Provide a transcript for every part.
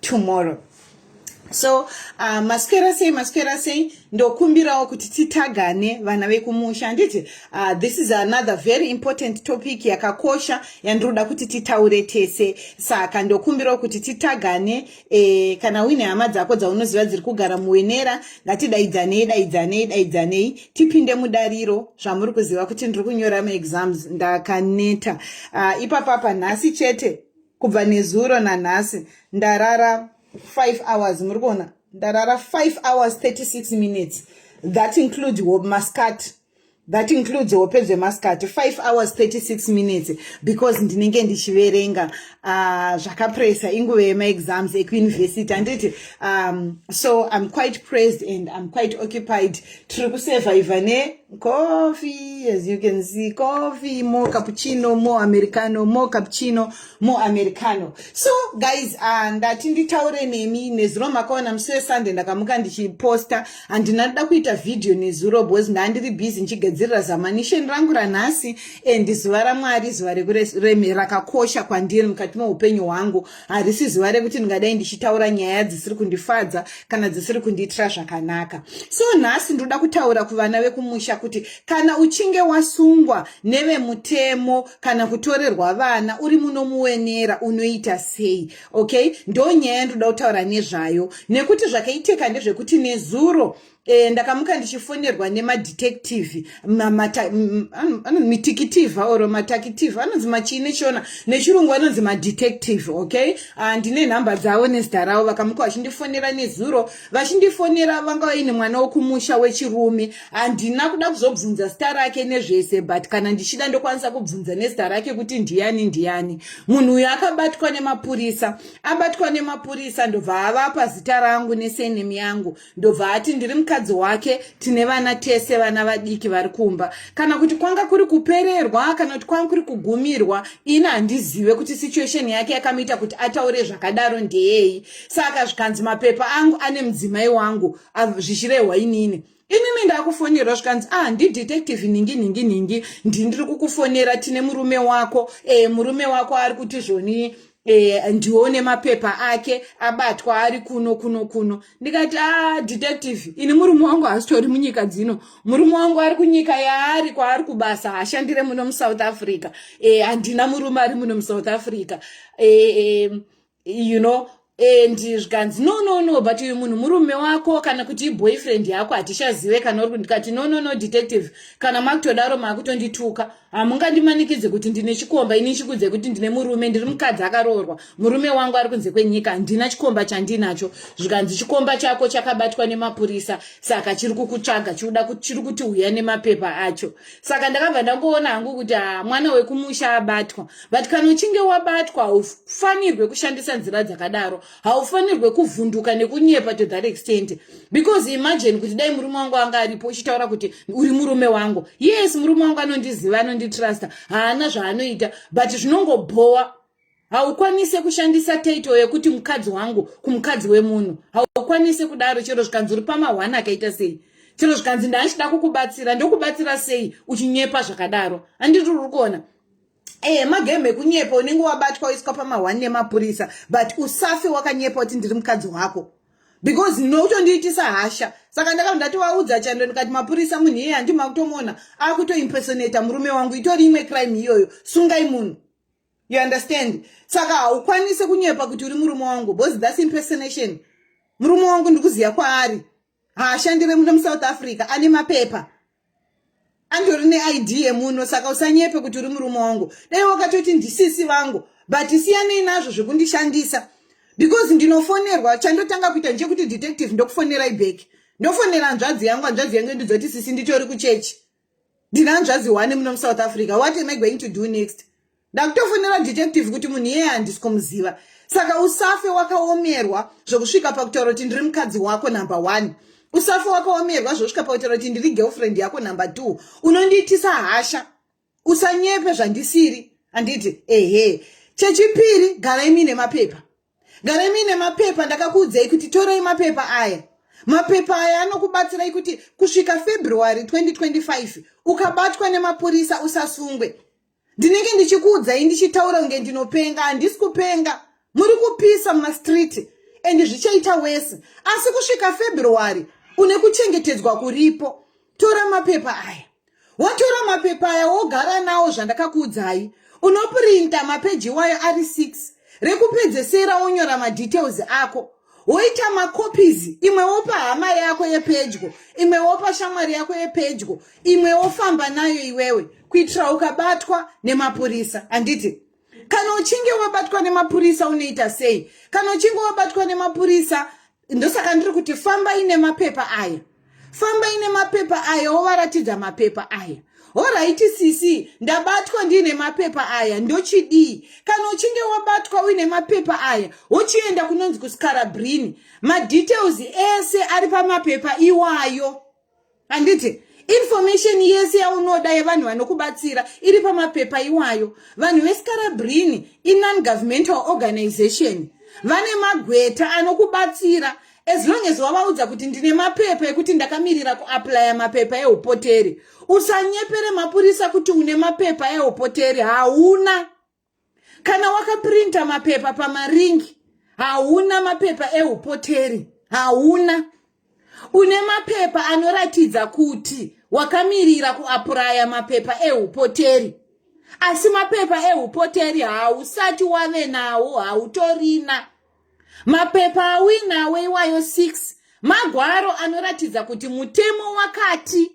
tomorrow so uh, maswera sei maswera sei ndokumbirawo kuti titagane vana vekumusha handiti uh, this is another very important topic yakakosha yandinoda kuti titaure tese saka ndokumbirawo kuti titagane eh, kana uine hama dzako dzaunoziva dziri kugara muwenera ngatidaidzanei daidzanei daidzanei tipinde mudariro zvamuri kuziva kuti ndiri kunyora maexams ndakaneta uh, ipapapa nhasi chete kubva nezuro nanhasi ndarara 5 hours muri kuona ndarara 5 hours 36 minutes that includes mascati that includes hope dzemasikati 5 hours 36 minutes because ndinenge ndichiverenga uh, zvakapresa inguva yemaexams ekuuniversity handiti um, so i'm quite praised and i'm quite occupied tiri kusurviva ne Coffee, as you can see, coffee, more cappuccino, more americano, more cappuccino, more americano. So guys, uh, ndati nditaure nemi nezuro makaona musi wesunday ndakamuka ndichiposta handina ndoda kuita video nezuro because ndandiri busy ndichigadzirira zamanisheni rangu ranhasi and zuva ramwari zuva rakakosha kwandiri mukati meupenyu hwangu harisi zuva rekuti ndingadai ndichitaura nyaya dzisiri kundifadza kana dzisiri kundiitira zvakanaka so nhasi ndinoda kutaura kuvana vekumusha kuti kana uchinge wasungwa nevemutemo kana kutorerwa vana uri munomuwenera unoita sei okay ndo nyaya ndinoda kutaura nezvayo nekuti zvakaitika ndezvekuti nezuro Eh, ndakamuka ndichifonerwa nemadetective mitikitivha or matakitivha anonzi machii nechona nechirungu anonzi madetective okay ah, ndine nhamba dzavo nezita ravo vakamuka vachindifonera nezuro vachindifonera vanga vaine mwana wokumusha wechirume handina kuda kuzobvunza zita rake nezvese but kana ndichida ndokwanisa kubvunza nezita rake kuti ndiyani ndiyani munhu uyo akabatwa nemapurisa abatwa nemapurisa ndobva avapa zita rangu nesenemi yangu ndobva ati ndiri mukadzi wake tine vana tese vana vadiki vari kumba kana kuti kwanga kuri kupererwa kana kuti kwanga kuri kugumirwa ini handizive kuti situation yake yakamuita kuti ataure zvakadaro ndeyei saka zvikanzi mapepa angu ane mudzimai wangu zvichirehwa inini inini ndakufonerwa zvikanzi ah ndidetective nhingi nhingi nhingi ndindiri kukufonera tine murume wako e, murume wako ari kuti zvonii e, ndione mapepa ake abatwa ari kuno kuno kuno ndikati a detective ini murume wangu hasitori munyika dzino murume wangu ari kunyika yaari kwaari kubasa hashandire muno musouth africa e, handina e, murume ari muno musouth africa e, e, you know and zvikanzi no no no but uyu munhu murume wako kana kuti iboyfriend yako hatichazive kana uri kundikati no no no detective kana makutodaro makutondituka hamungandimanikidze kuti ndine chikomba ini chikudze kuti ndine murume ndiri mukadzi akaroorwa murume wangu ari kunze kwenyika handina chikomba chandinacho zvikanzi chikomba chako chakabatwa nemapurisa saka chiri kukutsvaga chikuda chiri kuti huya nemapepa acho saka ndakabva ndangoona hangu kuti ha mwana wekumusha abatwa but kana uchinge wabatwa haufanirwe kushandisa nzira dzakadaro haufanirwe kuvhunduka nekunyepa to that extent because imagine kuti dai murume wangu anga aripo uchitaura kuti uri murume wangu yes murume wangu anondiziva anonditrusta haana zvaanoita but zvinongobhowa haukwanise kushandisa title yekuti mukadzi wangu kumukadzi wemunhu haukwanise kudaro chero zvikanzi uri pamahwani akaita sei chero zvikanzi ndaachida kukubatsira ndokubatsira sei uchinyepa zvakadaro handiti uri kuona ehe magame ekunyepa unenge wabatwa oiswa pamahwani nemapurisa but usafe wakanyepa kuti ndiri mukadzi wako because nokutondiitisa hasha saka ndakabva ndatovaudza chando ndikati mapurisa munhu iye handi makutomona akutoimpersonata murume wangu itori imwe crime iyoyo sungai munhu you understand saka haukwanise kunyepa kuti uri murume wangu because thats impersonation murume wangu ndikuziva kwaari haashandire muno musouth africa ane mapepa andori neid yemuno saka usanyepe kuti uri murume wangu dai wakatoti ndisisi vangu but siyanei nazvo zvekundishandisa because ndinofonerwa chandotanga kuita ndechekuti detective ndokufonerai back ndofonera hanzvadzi yangu hanzvadzi yangu ndidza kuti sisi nditori kuchechi ndine hanzvadzi one muno musouth africa what am i going to do next ndakutofonera detective kuti munhu iyeye handisi kumuziva saka usafe wakaomerwa zvokusvika pakutaura kuti ndiri mukadzi wako number one usafe wakaomerwa zvosvika pakutaura kuti ndiri girlfriend yako number two unondiitisa hasha usanyepe zvandisiri handiti ehe chechipiri garai muine mapepa Garai muine mapepa ndakakuudzai kuti torai mapepa aya. Mapepa aya anokubatsirai kuti kusvika February 2025 ukabatwa nemapurisa usasungwe. Ndinenge ndichikuudzai ndichitaura kunge ndinopenga, handisi kupenga. Muri kupisa mumastreet and zvichaita wese. Asi kusvika February une kuchengetedzwa kuripo. Tora mapepa aya. wotora mapepa aya wogara nawo zvandakakuudzai unopurinta mapeji iwayo ari 6 rekupedzesera wonyora madetails ako woita macopies imwe wopa hama yako yepedyo imwe wopa shamwari yako yepedyo imwe wofamba nayo iwewe kuitira ukabatwa nemapurisa handiti kana uchinge wabatwa nemapurisa unoita sei kana uchinge wabatwa nemapurisa ndosaka ndiri kuti famba ine mapepa aya famba ine mapepa aya wovaratidza mapepa aya horaiti sisi ndabatwa ndiine mapepa aya ndochidii kana uchinge wabatwa uine mapepa aya wochienda kunonzi kuskara brini madetails ese ari pamapepa iwayo handiti information yese yaunoda yevanhu vanokubatsira iri pamapepa iwayo vanhu vescarabrini inongovernmental organization vane magweta anokubatsira as long as wavaudza kuti ndine mapepa ekuti ndakamirira kuaplya mapepa eupoteri usanyepere mapurisa kuti une mapepa eupoteri hauna kana wakaprinta mapepa pamaringi hauna mapepa eupoteri hauna une mapepa anoratidza kuti wakamirira kuapuraya mapepa eupoteri asi mapepa eupoteri hausati wave nawo hautorina mapepa auinawo iwayo 6 magwaro anoratidza kuti mutemo wakati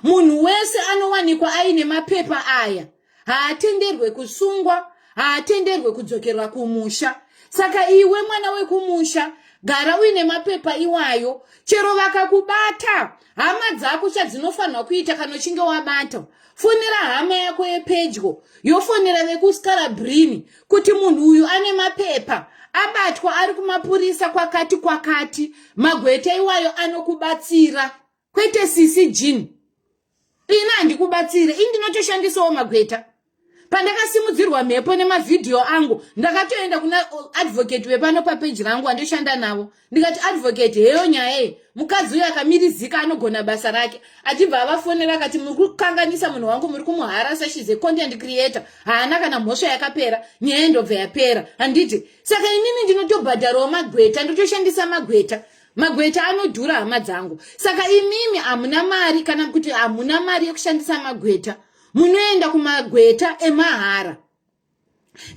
munhu wese anowanikwa aine mapepa aya haatenderwe kusungwa haatenderwe kudzokerwa kumusha saka iwe mwana wekumusha gara uine mapepa iwayo chero vakakubata hama dzako chadzinofanirwa kuita kana uchinge wabata fonera hama yako yepedyo yofonera vekuskarabrine kuti munhu uyu ane mapepa abatwa ari kumapurisa kwakati kwakati magweta iwayo anokubatsira kwete sisi jean ini handikubatsire ini ndinotoshandisawo magweta pandakasimudzirwa mhepo nemavhidhiyo angu ndakatoenda kuna advocate vepano papeji rangu andoshanda navo ndikati advocate heyo nyaya iyi mukadzi uyo akamirizika anogona basa rake achibva avafonera akati muri kukanganisa munhu wangu muri kumuharasa shes a content creator haana kana mhosva yakapera nyaya yendobva yapera handiti saka inini ndinotobhadharawo magweta ndotoshandisa magweta magweta anodhura hama dzangu saka imimi hamuna mari kana kuti hamuna mari yekushandisa magweta munoenda kumagweta emahara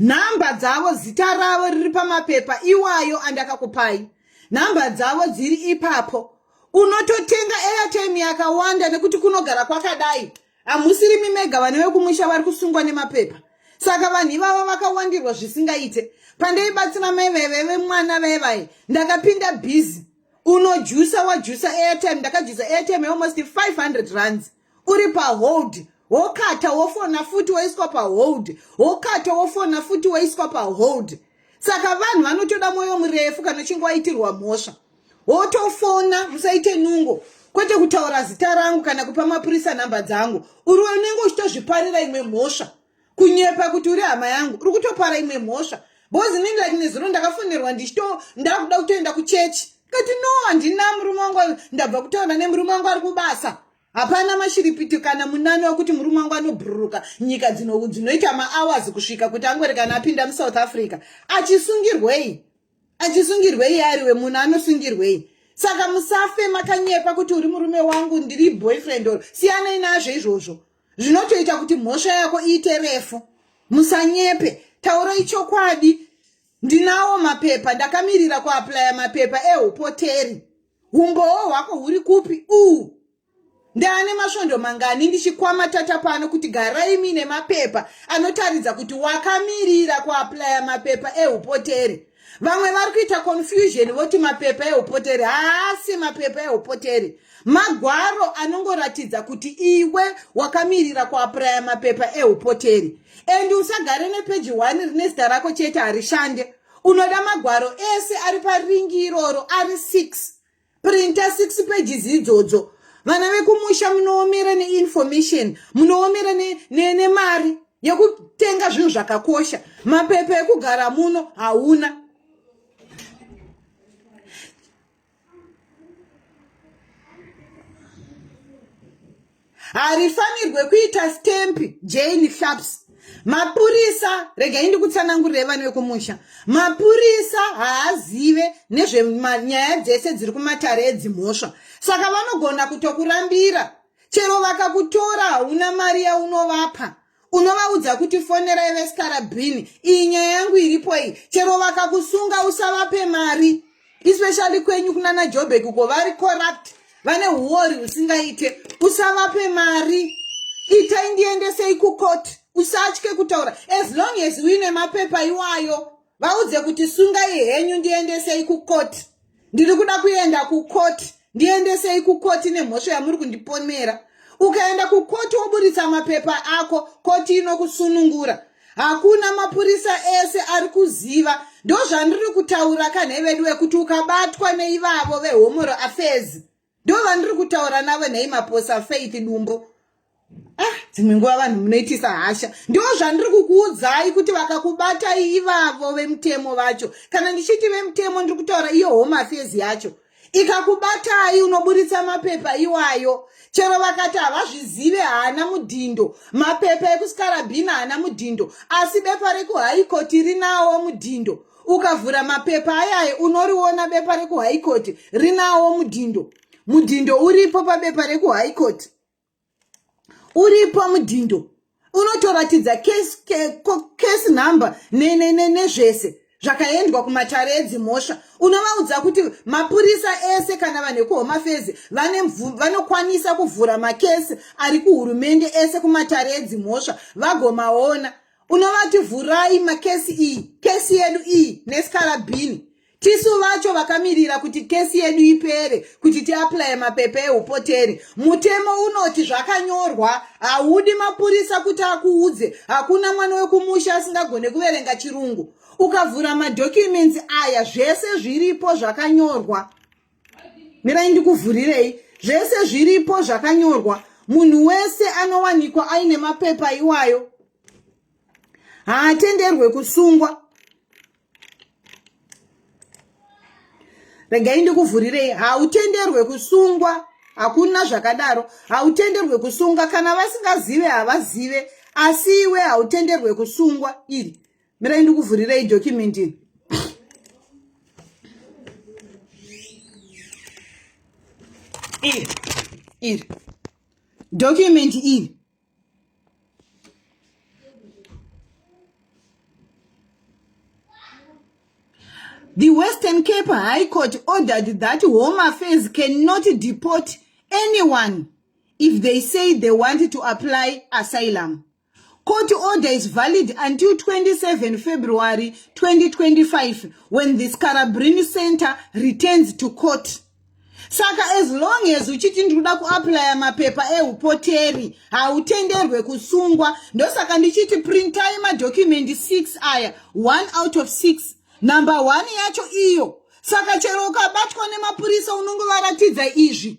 nhamba dzavo zita ravo riri pamapepa iwayo andakakupai nhamba dzavo dziri ipapo unototenga airtime yakawanda nekuti kunogara kwakadai hamusirimi mega vane vekumusha vari kusungwa nemapepa saka vanhu ivavo vakawandirwa zvisingaite pandaibatsira mai vaive vemwana vaivaye ndakapinda bhizi unojusa wajusa airtime ndakajusa airtime almost 500 runs uri pahold wokata wofona futi waiswa pahold wokata wofona futi waiswa pahold saka vanhu vanotoda mwoyo murefu kana uchinge waitirwa mhosva wotofona musaite nungo kwete kutaura zita rangu kana kupa mapurisa nhamba dzangu uri unenge uchitozviparira imwe mhosva kunyepa kuti uri hama yangu uri kutopara imwe mhosva bcoz inini like nezuro ndakafonerwa ndichito ndakuda kutoenda kuchechi kati no handina murume wangu ndabva kutaura nemurume wangu ari kubasa hapana mashiripiti kana munani wekuti murume wangu anobhururuka nyika dzinoita mahours kusvika kuti angorekana apinda musouth africa achisungirwei achisungirwei ari we munhu anosungirwei saka musafe makanyepa kuti uri murume wangu ndiri boyfriend or siyanei nazvo izvozvo zvinotoita kuti mhosva yako iite refu musanyepe tauro ichokwadi ndinawo mapepa ndakamirira kuaplaya mapepa ehupoteri umbowo hwako huri kupi uu Ndaane masvondo mangani ndichikwama tata pano kuti garai mine mapepa anotaridza kuti wakamirira kuaplaya mapepa eupoteri. Vamwe vari kuita confusion voti mapepa eupoteri haasi mapepa eupoteri. Magwaro anongoratidza kuti iwe wakamirira kuaplaya mapepa eupoteri. And usagare nepeji 1 rine zita rako chete harishande. Unoda magwaro ese ari paringi iroro ari 6. printer six pages idzodzo vana vekumusha munoomera neinformation munoomera nemari ne, ne yekutenga zvinhu zvakakosha mapepa ekugara muno hauna harifanirwe kuita stamp jane sharps mapurisa regai ndikutsanangurire vana vekumusha mapurisa haazive nezvenyaya dzese dziri kumatare edzimhosva saka vanogona kutokurambira chero vakakutora hauna mari yaunovapa unovaudza kuti fonerai vestarabrini iyi nyaya yangu iripo iyi chero vakakusunga usavape mari especially kwenyu kunana jobek uko vari corrupt vane uori husingaite usavape mari itai ndiendesei kucourt usatye kutaura as long as uine mapepa iwayo vaudze kuti sungai henyu ndiendesei kukoti ndiri kuda kuenda kukoti ndiendesei kukoti nemhosva yamuri kundipomera ukaenda kukoti woburitsa mapepa ako koti inokusunungura hakuna mapurisa ese ari kuziva ndozvandiri kutaura kanhevedu wekuti ukabatwa neivavo vehomoro afezi ndo vandiri kutaura navo nhai maposa faith dumbo ah dzimwe nguva vanhu munoitisa hasha ndo zvandiri kukuudzai kuti vakakubatai ivavo vemutemo vacho kana ndichiti vemutemo ndiri kutaura iyo home affairs yacho ikakubatai unoburitsa mapepa iwayo chero vakati havazvizive haana mudhindo mapepa ekusikarabhina haana mudhindo asi bepa rekuhaikoti rinawo mudhindo ukavhura mapepa ayaye unoriona bepa rekuhigh court rinawo mudhindo mudhindo uripo pabepa rekuhigh court uripo mudhindo unotoratidza case, case number nezvese ne, ne, zvakaendwa kumatare edzimhosva unovaudza kuti mapurisa ese kana vanhu ekuhomafezi vanokwanisa kuvhura makesi ari kuhurumende ese kumatare edzimhosva vagomaona unovati vhurai makesi iyi kesi yedu iyi nesikarabhini tisu vacho vakamirira kuti kesi yedu ipere kuti tiaplaye mapepa eupoteri mutemo unoti zvakanyorwa haudi mapurisa kuti akuudze hakuna mwana wekumusha asingagone kuverenga chirungu ukavhura madhocumensi aya zvese zviripo zvakanyorwa mirai ndikuvhurirei zvese zviripo zvakanyorwa munhu wese anowanikwa aine mapepa iwayo haatenderwe kusungwa regai ndikuvhurirei hautenderwe kusungwa hakuna zvakadaro hautenderwe kusunga kana vasingazive havazive asi iwe hautenderwe kusungwa iri mirai ndikuvhurirei document iri iri document iri The Western Cape High Court ordered that Home Affairs cannot deport anyone if they say they want to apply asylum. Court order is valid until 27 February 2025 when the Scarabrini Center returns to court. Saka as long as uchiti ndikuda kuaplya mapepa eupoteri hautenderwe kusungwa. Ndosaka ndichiti printai madocument 6 aya 1 out of 6 number 1 yacho iyo. Saka chero ukabatwa nemapurisa unongovaratidza izvi.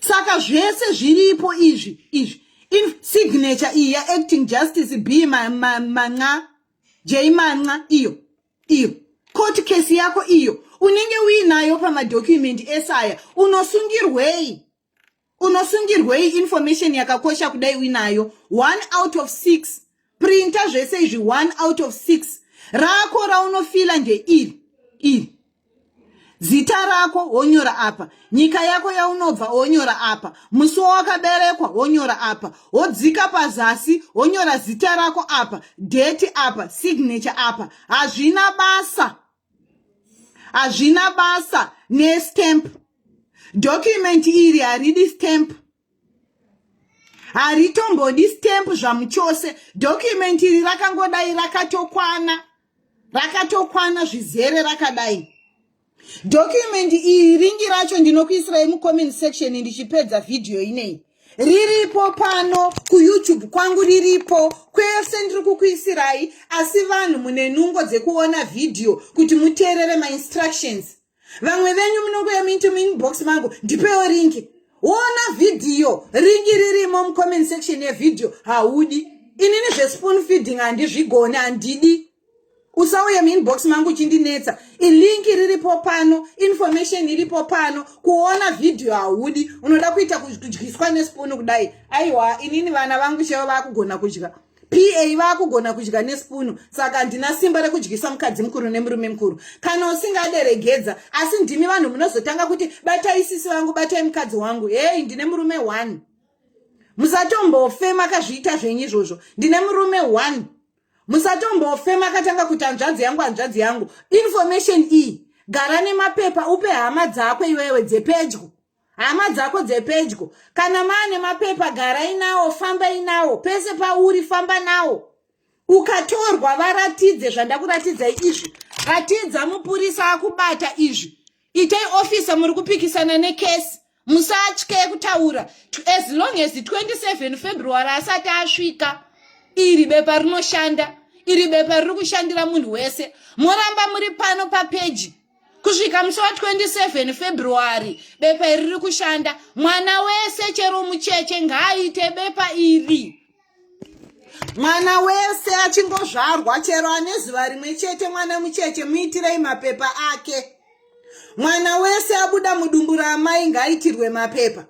saka zvese zviripo izvi izvi in signature iyi yaacting justice b manxa jay manxa iyo iyo court case yako iyo unenge uinayo pamadocumendi ese aya unosungirwei unosungirwei information yakakosha kudai uinayo one out of six printa zvese izvi one out of six rako raunofila ndeiri iri zita rako wonyora apa nyika yako yaunobva wonyora apa musi wawakaberekwa wonyora apa wodzika pazasi wonyora zita rako apa deti apa signature apa hazvina basa hazvina basa nestamp document iri haridi stamp haritombodi stamp zvamuchose document iri rakangodai rakatokwana rakatokwana zvizere rakadai document iri ringi racho ndinokuisirai mucomment section ndichipedza vhidhiyo inei riripo pano kuyoutube kwangu riripo kwese ndiri kukuisirai asi vanhu mune nungo dzekuona vhidhiyo kuti muteerere mainstructions vamwe venyu munongouya muinto muinbox mangu ndipewo ringi wona vhidhiyo ringi ririmo mucomment section yevhidhiyo haudi inini zvespoon feeding handizvigoni handidi usauye muinbox mangu uchindinetsa ilinki riripo pano information iripo pano kuona vhidhiyo haudi unoda kuita kudyiswa nespuni kudai aiwa inini vana vangu cheva vakugona kudya pa vakugona kudya nespunu saka handina simba rekudyisa mukadzi mukuru nemurume mukuru kana usingaderegedza asi ndimi vanhu munozotanga kuti batai sisi vangu batai mukadzi wangu hei ndine murume one musatombofe makazviita zvenyu izvozvo ndine murume one musatombofe makatanga kuti hanzvadzi yangu hanzvadzi yangu information iyi gara nemapepa upe hama dzako iwewe dzepedyo hama dzako dzepedyo kana maane mapepa garai nawo fambai nawo pese pauri famba nawo ukatorwa varatidze zvandakuratidzai izvi ratidza mupurisa akubata izvi itai ofisa muri kupikisana nekesi musatye kutaura as long as 27 february asati asvika iri bepa rinoshanda iri bepa riri kushandira munhu wese moramba muri pano papeji kusvika musi wa 27 february bepa iri riri kushanda mwana wese chero mucheche ngaaite bepa iri mwana wese achingozvarwa chero ane zuva rimwe chete mwana mucheche muitirei mapepa ake mwana wese abuda mudumbu raamai ngaaitirwe mapepa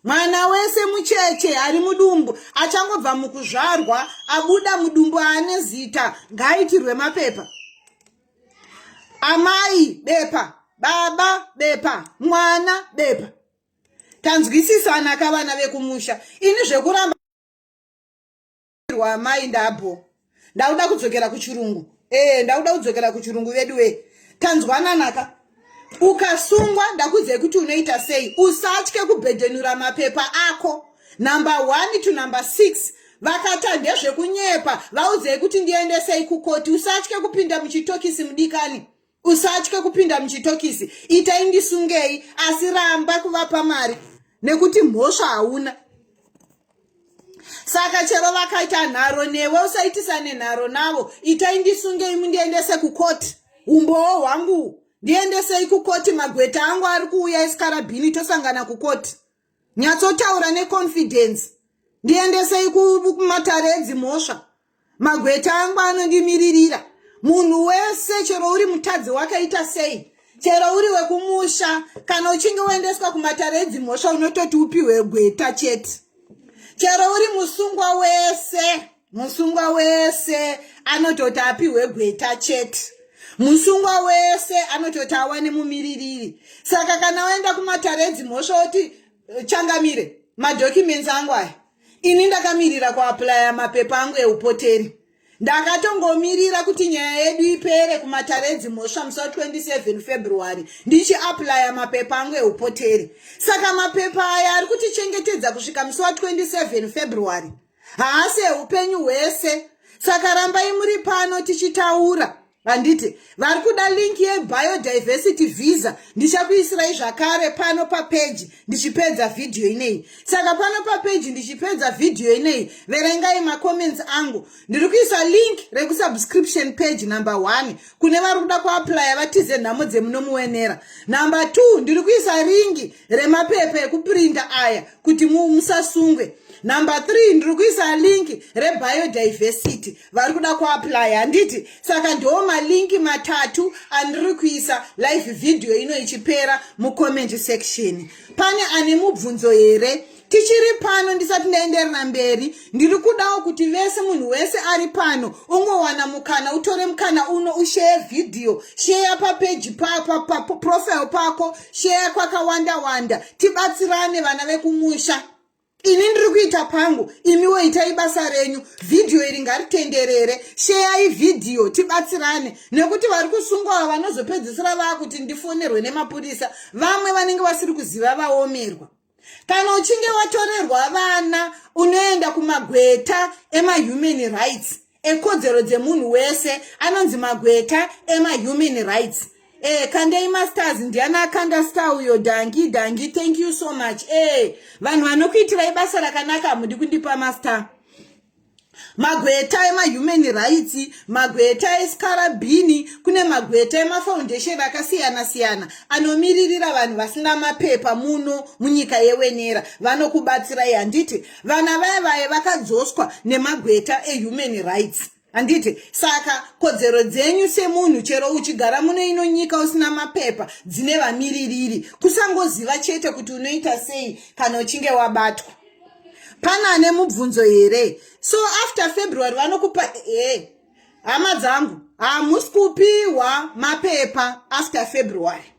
mwana wese mucheche ari mudumbu achangobva mukuzvarwa abuda mudumbu aane zita ngaaitirwe mapepa amai bepa baba bepa mwana bepa tanzwisisana ka vana vekumusha ini zvekuramba ndakumbirwa amai ndabho ndakuda kudzokera kuchirungu ee eh, ndakuda kudzokera kuchirungu veduwee tanzwananaka ukasungwa ndakudzei kuti unoita sei usatye kubhedhenura mapepa ako number one to number six vakata ndezvekunyepa vaudzei kuti ndiendesei kukoti usatye kupinda muchitokisi mudikani usatye kupinda muchitokisi itai ndisungei asi ramba kuvapa mari nekuti mhosva hauna saka chero vakaita nharo newe usaitisane nharo navo itai ndisungei mundiendese kukoti umbowo hwangu ndiendesei kukoti magweta angu ari kuuya esikarabhini tosangana kukoti nyatsotaura neconfidence ndiendesei kumatare edzimhosva magweta angu anondimiririra munhu wese chero uri mutadzi wakaita sei chero uri wekumusha kana uchinge woendeswa kumatare edzimhosva unototi upiwe gweta chete chero uri musungwa wese musungwa wese anototi apihwe gweta chete musungwa wese anototi awane mumiririri saka kana waenda kumatare edzimhosva woti eh, changamire madhocumensi angu aya ini ndakamirira kuaplaya mapepa angu eupoteri ndakatongomirira kuti nyaya yedu ipere kumatare edzimhosva musi wa 27 february ndichiaplaya mapepa angu eupoteri saka mapepa aya ari kutichengetedza kusvika musi wa 27 february haasi eupenyu hwese saka rambai muri pano tichitaura handiti vari kuda link yebiodiversity visa ndichakuisirai zvakare pano papeji ndichipedza vhidhiyo ineyi saka pano papeji ndichipedza vhidhiyo ineyi verengai macomments angu ndiri kuisa link rekusubscription page number one kune vari kuda kuaplya vatize nhamo dzemunomuwenera number two ndiri kuisa ringi remapepa ekuprinda aya kuti musasungwe number three ndiri kuisa linki rebiodiversity vari kuda kuapply handiti saka ndoo malinki matatu andiri kuisa live video ino ichipera mucomment section pane ane mubvunzo here tichiri pano ndisati ndaenderera mberi ndiri kudawo kuti vese munhu wese ari pano ungowana mukana utore mukana uno usheye vhidhiyo sheya papeji paprofile pako sheya kwakawanda wanda tibatsirane vana vekumusha ini ndiri kuita pangu imiwo itai basa renyu vhidhiyo iri ngaritenderere sheyai vhidhiyo tibatsirane nekuti vari kusungwawo vanozopedzisira vaakuti ndifonerwe nemapurisa vamwe vanenge vasiri kuziva vaomerwa kana uchinge watorerwa vana unoenda kumagweta emahuman rights ekodzero dzemunhu wese anonzi magweta emahuman rights e kandei masters ndiani akanda star uyo dangi dangi thank you so much e vanhu vanokuitirai basa rakanaka hamudi kundipa master magweta emahuman rights magweta escarabini kune magweta emafoundation akasiyana siyana anomiririra vanhu vasina mapepa muno munyika yewenera vanokubatsirai handiti vana vaye vaye vakadzoswa nemagweta ehuman rights handiti saka kodzero dzenyu semunhu chero uchigara muno ino nyika usina mapepa dzine vamiririri kusangoziva chete kuti unoita sei kana uchinge wabatwa pana ane mubvunzo here so after february vanokupa hey. Eh, hama dzangu hamusi kupiwa mapepa after february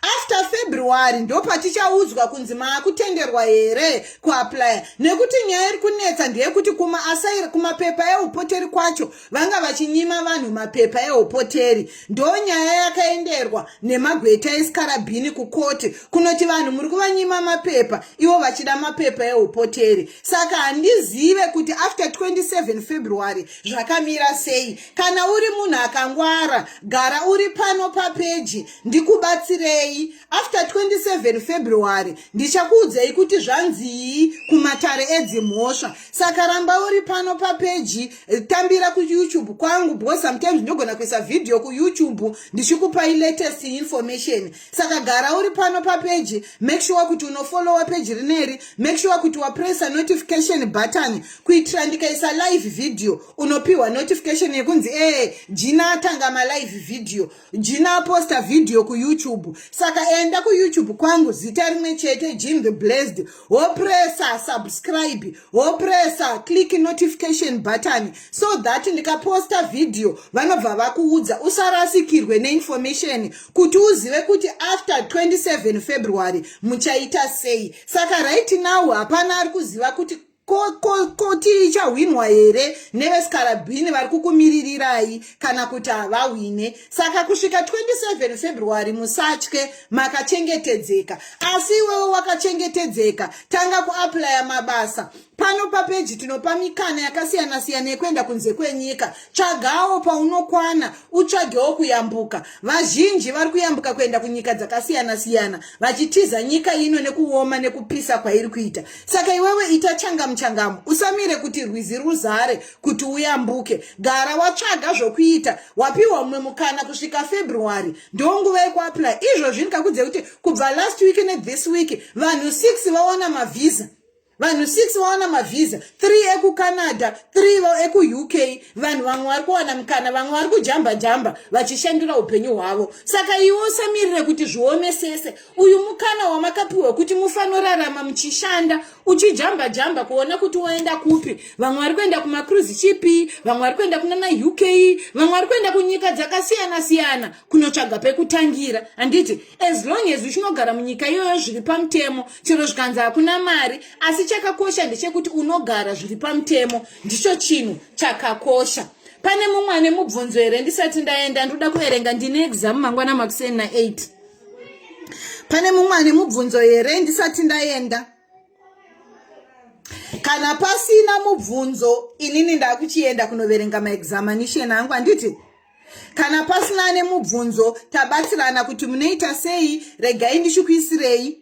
after february ndopatichaudzwa kunzi maakutenderwa here kuaplya nekuti nyaya iri kunetsa ndeyekuti kuma asairi kumapepa eupoteri kwacho vanga vachinyima vanhu mapepa ehopoteri ndonyaya yakaenderwa nemagweta esikarabhini kukoti kunoti vanhu muri kuvanyima mapepa ivo vachida mapepa ehopoteri saka handizive kuti after 27 february zvakamira sei kana uri munhu akangwara gara uri pano papeji ndikubatsirei after 27 february ndichakuudzei kuti zvanzii kumatare edzimhosva saka ramba uri pano papeji tambira kuyoutube kwangu because sometimes ndinogona kuisa vhidhiyo kuyoutube ndichikupai latest information saka gara uri pano papeji make sure kuti unofolowa peji rineri make sure kuti wapressa notification button kuitira ndikaisa live vhidhiyo unopiwa notification yekunzi ee jina atanga malive vhidhiyo Jina posta video ku YouTube. Saka enda ku YouTube kwangu zita rimwe chete Jim the Blessed. Wopressa subscribe, wopressa click notification button so that ndikaposta video vanobva vakuudza usarasikirwe ne information kuti uzive kuti after 27 February muchaita sei. Saka right now hapana ari kuziva kuti ko ko ko tichahwinwa here nevesikarabhini vari kukumiririrai kana kuti havahwine saka kusvika 27 february musatye makachengetedzeka asi iwewe wakachengetedzeka tanga kuaplya mabasa pano papeji tinopa mikana yakasiyana-siyana yekuenda kunze kwenyika tsvagawo paunokwana utsvagewo kuyambuka vazhinji vari kuyambuka kuenda kunyika dzakasiyana-siyana vachitiza nyika ino nekuoma nekupisa kwairi kuita saka iwewe ita changamu changamu usamire kuti rwizi ruzare kuti uyambuke gara watsvaga zvokuita wapiwa mumwe mukana kusvika february ndo nguva yekuapply izvozvi ndikakudze kuti kubva last week nethis week vanhu six vaona mavhiza vanhu six vaona mavhiza three ekucanada three ekuuk vanhu vamwe vari kuwana mukana vamwe vari kujamba jamba vachishandira upenyu hwavo saka iwe usamirire kuti zvionesese uyu mukana wamakapiwa kuti mufanorarama muchishanda uchijamba jamba kuona kuti woenda kupi vamwe vari kuenda kumacruise chipi vamwe vari kuenda kunana uk vamwe vari kuenda kunyika dzakasiyana siyana kunotsvaga pekutangira handiti as long as uchinogara munyika iyoyo zviri pamutemo chero zvikanzi hakuna mari asi chakakosha ndechekuti unogara zviri pamutemo ndicho chinhu chakakosha pane mumwe ane mubvunzo here ndisati ndaenda ndoda kuverenga ndine exam mangwana makuseni na8 pane mumwe ane mubvunzo here ndisati ndaenda kana pasina mubvunzo inini ndakuchienda kunoverenga maexamination angu handiti kana pasina ane mubvunzo tabatsirana kuti munoita sei regai ndichikuisirei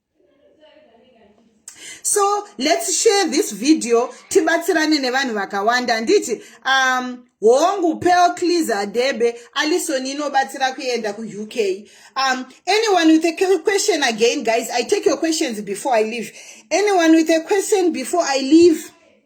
so let's share this video tibatsirane nevanhu vakawanda handiti um hongu pel cleaser debe alison inobatsira kuenda kuuk um anyone with a question again guys i take your questions before i leave anyone with a question before i leave